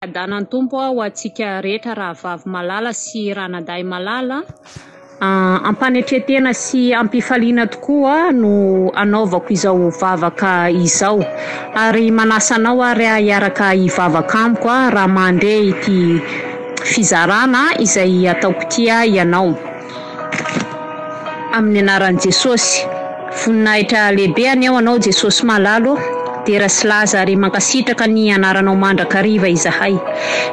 Adanan'ny Tompo ho antsika rehetra rahavavy malala sy ranadahy malala a! Am-panetren-tena sy am-pifaliana tokoa no anaovako izao vavaka izao ary manasa anao ary aho hiaraka hivavaka amiko a! raha mandre ity fizarana izay ataoko ity aho ianao. Amin'ny anaran'i Jesosy. Voninahitra lehibe anie ho anao Jesosy malalo ô! Dera sy laza ary mankasitraka ny anaranao mandrakariva izahay.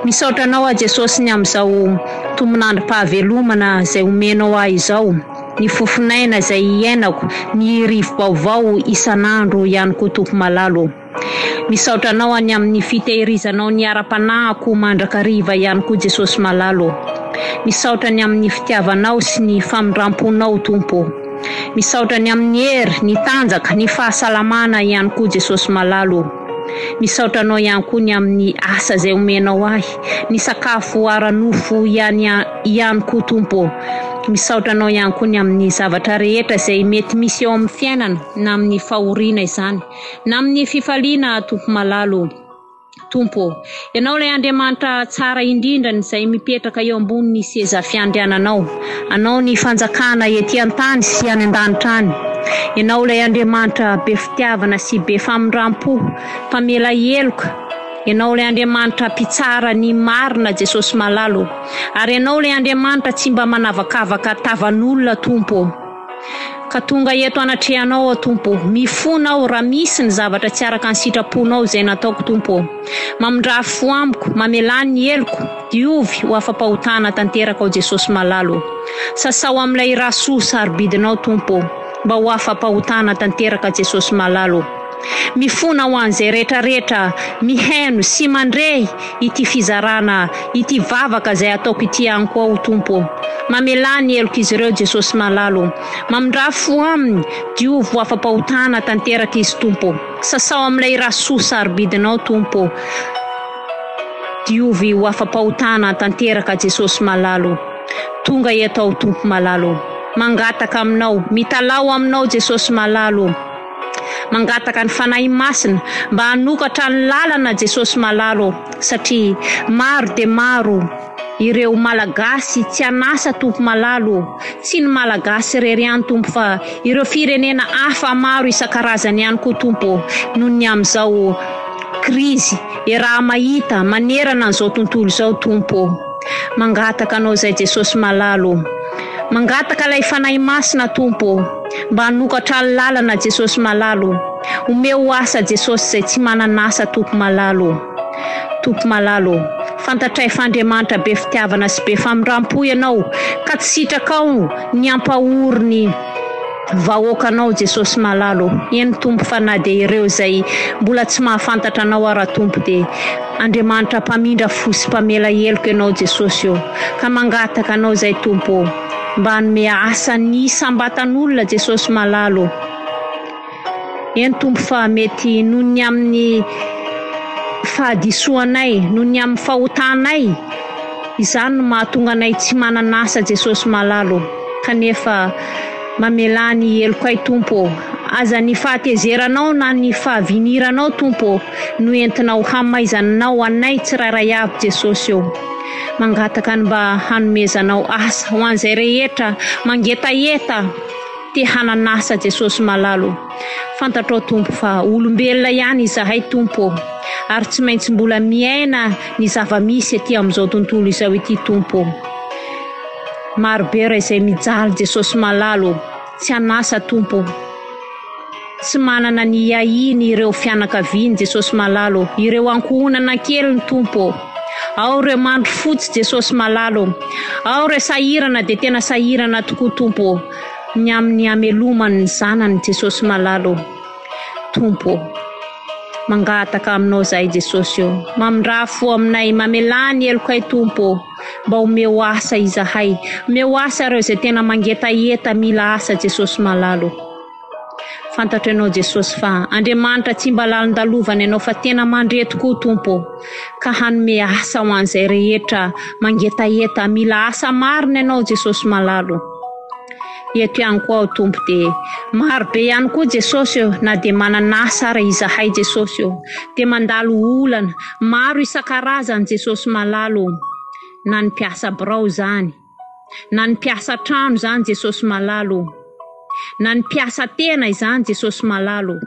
Misaotra anao aho Jesosy ny amin'izao tombon'androm-pahavelomana izay omenao ahy izao, ny fofon'aina izay iainako, ny rivo-baovao isan'andro ihany koa Tompo malalo ô! Misaotra anao any amin'ny fitehirizanao ny ara-panahako mandrakariva ihany koa Jesosy malalo ô. Misaotra ny amin'ny fitiavanao sy ny famindramponao Tompo ô. Misaotra ny amin'ny hery, ny tanjaka, ny fahasalamana ihany koa Jesosy malalo ô. Misaotra anao ihany koa ny amin'ny asa izay omenao ahy, ny sakafo ara-nofo ihany ihany koa Tompo ô. Misaotra anao ihany koa ny amin'ny zavatra rehetra izay mety misy eo amin'ny fiainana na amin'ny fahoriana izany. Na amin'ny fifaliana Tompo malala ô. Tompo ô. Ianao ilay Andriamanitra tsara indrindra izay mipetraka eo ambonin'ny seza fiandriananao. Anao ny fanjakana ety an-tany sy any an-danitra any. Ianao ilay Andriamanitra be fitiavana sy be famindram-po, mpamela heloka. Ianao ilay Andriamanitra mpitsara ny marina Jesosy malala ô. Ary Ianao ilay Andriamanitra tsy mba manavakavaka tavan'olona Tompo ô. Ka tonga eto anatrehanao aho Tompo ô, mifona aho raha misy ny zavatra tsy araka ny sitraponao izay nataoko Tompo ô. Mamindrà fo amiko, mamelà ny heloko, diovy ho afa-pahotana tanteraka aho Jesosy malala ô. Sasao amin'ilay rà soa sarobidinao Tompo ô, mba ho afa-pahotana tanteraka Jesosy malala ô. Mifona ho an'izay rehetrarehetra mihaino sy mandre ity fizarana ity vavaka izay ataoko ity any koa o Tompo ô. Mamelà ny helok'izy ireo Jesosy malala ô. Mamindrà fo aminy, diovy ho afa-pahotana tanteraka izy Tompo ô. Sasao amin'ilay rà soa sarobidinao Tompo ô. Diovy ho afa-pahotana tanteraka Jesosy malala ô. Tonga eto aho Tompo malala ô. Mangataka aminao, mitalaho aminao Jesosy malala ô. Mangataka ny Fanahy Masina mba hanokatra ny lalana Jesosy Malalo ô satria maro dia maro ireo Malagasy tsy an'asa Tompo Malalo ô tsy ny Malagasy irery ihany Tompo fa ireo firenena hafa maro isan-karazany ihany koa Tompo ô noho ny amin'izao krizy iaraha-mahita manerana an'izao tontolo izao Tompo ô. Mangataka Anao izay Jesosy malala ô! Mangataka ilay Fanahy Masina Tompo ô! Mba hanokatra ny lalana Jesosy malala ô! Omeo asa Jesosy izay tsy manana asa Tompo malala ô! Tompo malala ô! Fantatray fa Andriamanitra be fitiavana sy be famindrampo Ianao ka tsy sitrakao ny hampahory ny Vahoaka anao Jesosy malala ô. Eny Tompo fa na dia ireo izay mbola tsy mahafantatra anao ara Tompo dia Andriamanitra mpamindra fo sy mpamela heloka ianao Jesosy ô ka mangataka anao izay Tompo ô mba hanome asa ny isambatan'olona Jesosy malala ô eny Tompo fa mety noho ny amin'ny fahadisoanay noho ny amin'ny fahotanay Izany no mahatonga anay tsy manana asa Jesosy malala ô kanefa mamelà ny helokay Tompo ô Aza ny fahatezeranao na ny fahaviniranao Tompo ô no entinao hamaizaninao anay tsirairay avy Jesosy ô Mangataka ny mba hanomezanao asa ho an'izay rehetra mangetaheta te hanan'asa Jesosy malala ô. Fantatrao Tompo fa olombelona ihany izahay Tompo ô, ary tsy maintsy mbola miaina ny zava-misy ety amin'izao tontolo izao ity Tompo ô. Marobe raha izay mijaly Jesosy malala ô, tsy an'asa Tompo ô. Tsy manana ny hiahiany ireo fianakaviany Jesosy malala ô, ireo ankohonana keliny Tompo ô. Ao ireo mandry fotsy Jesosy malala ô. Ao ireo sahirana dia tena sahirana tokoa Tompo ô. Ny amin'ny hamelomany ny zanany Jesosy malala ô. Tompo ô. Mangataka aminao zahay Jesosy ô. Mamindraha fo aminay, mamelà ny helokay Tompo ô. Mba omeo asa izahay. Omeo asa ireo izay tena mangetaheta mila asa Jesosy malala ô. Fantatro ianao Jesosy fa Andriamanitra tsy mba lalin-dalovana ianao fa tena mandre tokoa Tompo ô. Ka hanome asa ho an'izay rehetra mangetaheta mila asa marina ianao Jesosy malala ô. Eto ihany koa aho Tompo dia maro be ihany koa Jesosy ô na dia manana asa ary izahay Jesosy ô dia mandalo olana maro isan-karazany Jesosy malala ô na ny mpiasa birao izany na ny mpiasa an-trano izany Jesosy malala ô na ny mpiasa tena izany Jesosy malala ô.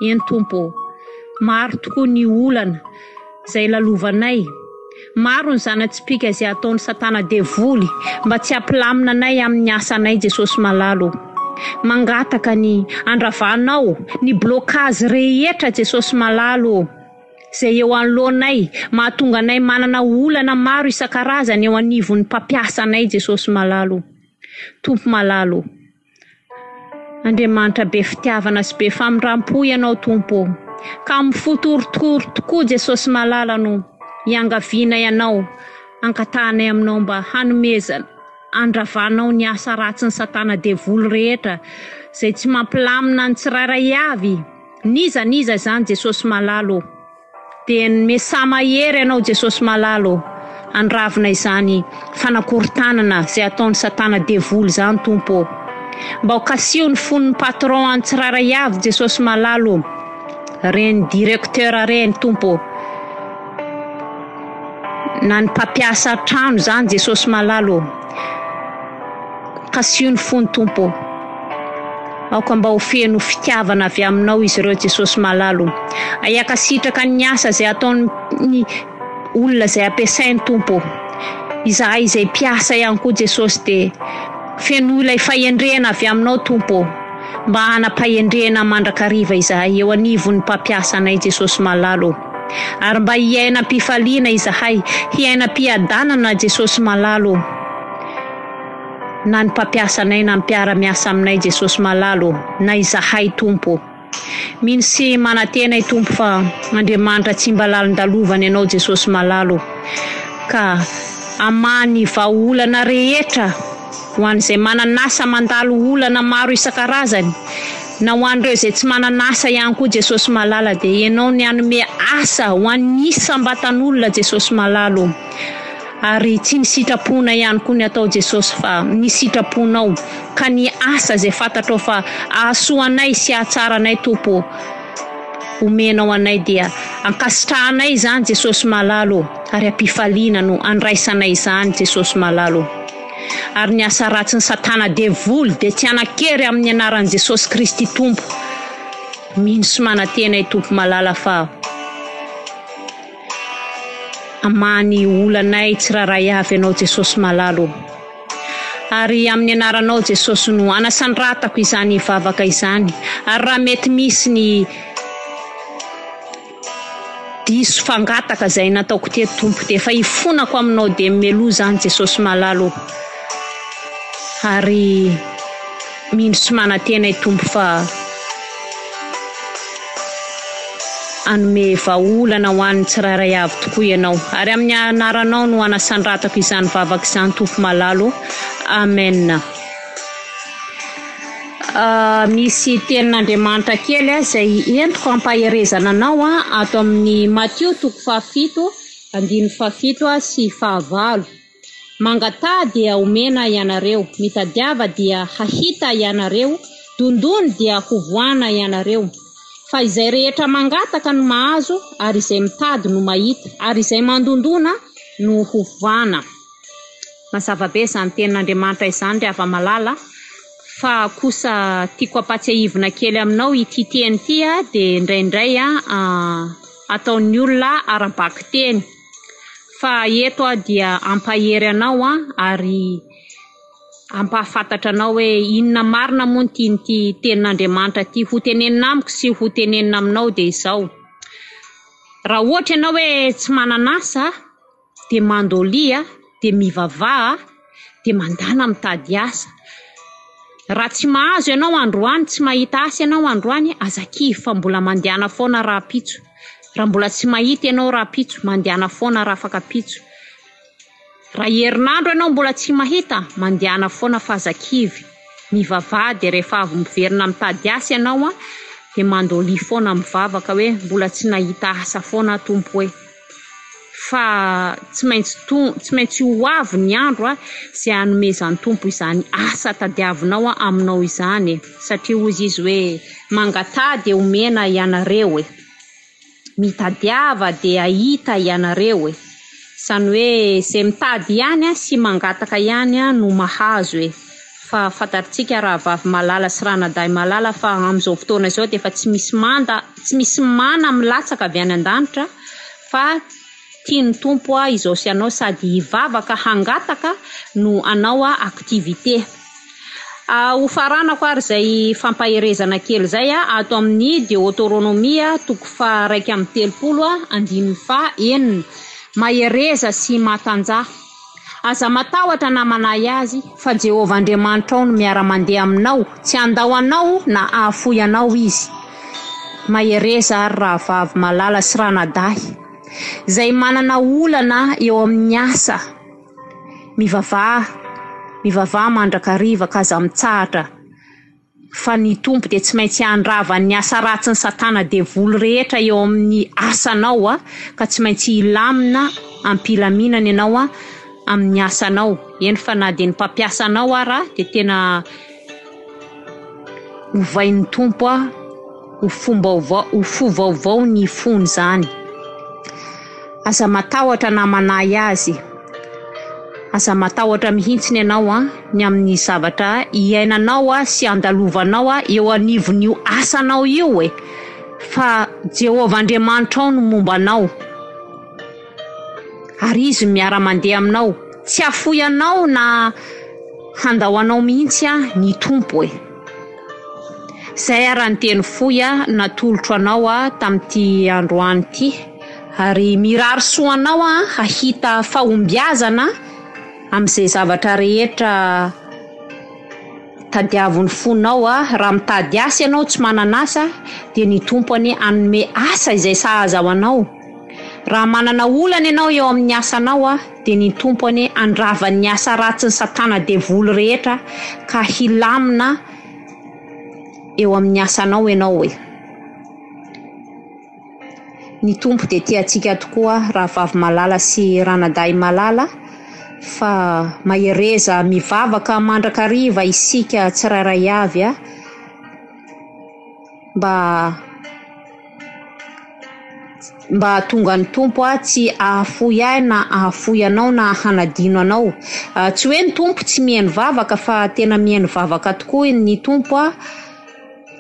Eny Tompo ô! Maro tokoa ny olana izay lalovanay, maro ny zana-tsipìka izay ataon'i Satana Devoly mba tsy hampilamina anay amin'ny asanay Jesosy Malala ô! Mangataka ny handravanao ny blocage rehetra Jesosy Malala ô! izay eo anoloanay mahatonga anay manana olana maro isan-karazany eo anivon'ny mpampiasa anay Jesosy Malala ô! Tompo Malala ô! Andriamanitra be fitiavana sy be famindrampo ianao Tompo ô ka mifoto orotoro tokoa Jesosy malala no iangaviana ianao angatahanay aminao mba hanomezana andravanao ny asa ratsiny satana devoly rehetra zay tsy mampilamina ny tsirairay avy n'iza n'iza izany Jesosy malala ô. Dia ny Mesa mahery anao Jesosy malala ô! Andravona izany fanakorontanana izay ataon'i satana devoly izany Tompo ô! Mba ho kasiho ny fon'ny patron any tsirairay avy Jesosy malala ô! Reny directeur reny Tompo ô! Na ny mpampiasa trano izany Jesosy malala ô! Kasio ny fony Tompo ô. Aoka mba ho feno fitiavana avy aminao izy ireo Jesosy malala ô. Ahiaka sitraka ny asa izay ataony ny olona izay ampiasainy Tompo ô. Izahay izay mpiasa ihany koa Jesosy dia fenoy ilay fahendrena avy aminao Tompo ô. Mba hanam-pahendrena mandrakariva izahay eo anivon'ny mpampiasa anay Jesosy malala ô. Ary mba hiaina am-pifaliana izahay, hiaina am-piadanana Jesosy malalo ô. Na ny mpampiasa anay na ny mpiara miasa aminay Jesosy malalo ô, na izahay Tompo ô. Mino sy manantena i Tompo fa Andriamanitra tsy mba lalin-dalovana ianao Jesosy malalo ô. Ka hamaha ny vahaolana rehetra. ho an'izay manan'asa mandalo olana maro isan-karazany, na ho an'ireo izay tsy manan'asa ihany koa Jesosy malala dia ianao ny hanome asa ho an'ny isam-batan'olona Jesosy malala o! ary tsy ny sitraponay ihany koa ny atao Jesosy fa ny sitraponao ka ny asa izay fantatrao fa ahasoa anay sy ahatsara anay Tompo o! omenao anay dia ankasitrahanay izany Jesosy malala ô ary ampifaliana no andraisanay izany Jesosy malala ô ary ny asa ratsy ny satana devoly dia tsy hanakery amin'ny anaran'i Jesosy Kristy Tompo mino sy manatena i Tompo malala fa Hamaha ny olanay tsirairay avy Ianao Jesosy malala ô! Ary amin'ny anaranao Jesosy no anasanratako izany vavaka izany ary raha mety misy ny diso fangataka izay nataoko teto Tompo dia efa ifonako aminao dia meloa izany Jesosy malala ô! Ary Mino sy manantena i Tompo fa hanome vahaolana ho an'ny tsirairay avy tokoa Ianao. Ary amin'ny anaranao no anasandratako izany vavaka izany Tompo malala o. Amen. Misy tenin'Andriamanitra kely aho izay entiko hampaherezana anao ato amin'ny Matio toko fahafito, andininy fahafito sy fahavalo. Mangataha dia homena ianareo, mitadiava dia hahita ianareo, dondony dia hovohana ianareo. Fa izay rehetra mangataka no mahazo, ary izay mitady no mahita, ary izay mandondona no hovana. Mazava be izany tenin'Andriamanitra izany ry hava-malala, fa kosa tiako hampatsiahivina kely aminao ity teny ity dia indraindray ataon'ny olona ara-bakiteny. Fa eto aho dia hampahery anao ary hampahafantatra anao hoe inona marina moa ny tian'ity tenin'Andriamanitra ity hotenenina amiko sy hotenenina aminao dia izao, raha ohatra ianao hoe tsy manana asa dia mandolia dia mivavaha. dia mandàna mitady asa. Raha tsy mahazo ianao androany, tsy mahita asa ianao androany, aza kivy fa mbola mandehana foana rahampitso. Raha mbola tsy mahita ianao rahampitso, mandehana foana rafakapitso. Raha herinandro ianao mbola tsy mahita, mandehana foana fa aza kivy. Mivavaha dia rehefa avy miverina mitady asa ianao dia mandolia foana mivavaka hoe mbola tsy nahita asa foana aho Tompo e! fa tsy maintsy to- tsy maintsy ho avy ny andro a, zay hanomezan'ny Tompo izany asa tadiavinao aminao izany e, satria hozy izy hoe mangataha dia homena ianareo e, mitadiava dia hahita ianareo e, zany hoe zay mitady ihany sy mangataka ihany no mahazo e. Fa fantarintsika rahavavy malala sy ranadahy malala fa amin'izao fotoana izao dia efa tsy misy manda, tsy misy mana milatsaka avy any an-danitra fa tian'ny Tompo aho izao sy ianao sady hivavaka hangataka no hanao activité. Hofaranako ary izay fampaherezana kely izay ato amin'ny Deoteronomia toko faha iraika amby telopolo andininy faha enina. Mahereza sy matanjaha. Aza matahotra na manahy azy, fa Jehovah Andriamanitrao no miara-mandeha aminao, tsy handao anao na hahafoy anao izy. Mahereza àry rahavavy malala sy ranadahy izay manana olana eo amin'ny asa. Mivavaha, mivavaha mandrakariva ka aza mitsahatra. Fa ny Tompo dia tsy maintsy handrava ny asa ratsin'i Satana Devoly rehetra eo amin'ny asanao a, ka tsy maintsy hilamina am-pilaminana ianao a amin'ny asanao, eny fa na dia ny mpampiasa anao ara dia tena ovain'ny Tompo a. ho fombaovao ho fo vaovao ny fony zany aza matahotra na manahy azy aza matahotra mihitsiny ianao a ny amin'ny zavatra iainanao a sy andalovanao a eo anivon'io asanao io e fa Jehovah Andriamanitrao no momba anao Ary izy no miara-mandeha aminao. Tsy hahafoy anao na handao anao mihitsy aho ny Tompo e. Izay ary ny teny fohy natolotro anao aho tamin'ity androany ity. Ary mirary soa anao aho hahita fahombiazana amin'izay zavatra rehetra tadiavin'ny fonao raha mitady asa ianao tsy manana asa dia ny Tompo anie hanome asa izay sahaza ho anao. Raha manana olana ianao eo amin'ny asanao a, dia ny Tompo anie handrava ny asa ratsin'i Satana Devoly rehetra ka hilamina eo amin'ny asanao ianao e. Ny Tompo dia tia antsika tokoa rahavavy malala sy ranadahy malala fa mahereza mivavaka mandrakariva isika tsirairay avy a. mba mba hahatonga ny Tompo ahy tsy hahafoy ahy na hahafoy anao na hanadino anao. Ah, tsy hoe ny Tompo tsy mihaino vavaka fa tena mihaino vavaka tokoa ny Tompo aho.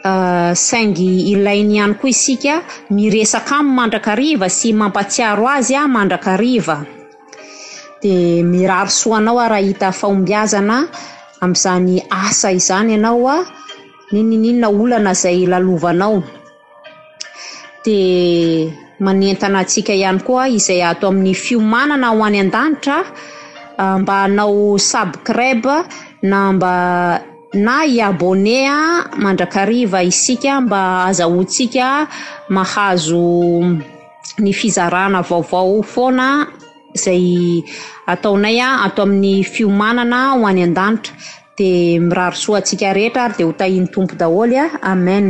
Ah, saingy ilainy ihany koa isika miresaka aminy mandrakariva sy mampatsiaro azy aho mandrakariva. Dia mirary soa anao aho raha hita fahombiazana amin'izany asa izany ianao a. Ninininona olana izay lalovanao dia manentana antsika ihany koa izay ato amin'ny fiomanana ho any an-danitra mba hanao subscribe na mba na hi-abonné mandrakariva isika mba ahazahoantsika mahazo ny fizarana vaovao foana. izay ataonay ato amin'ny fiomanana ho any an-danitra dia mirary soa antsika rehetra ary dia ho tahian'ny Tompo daholo Amen.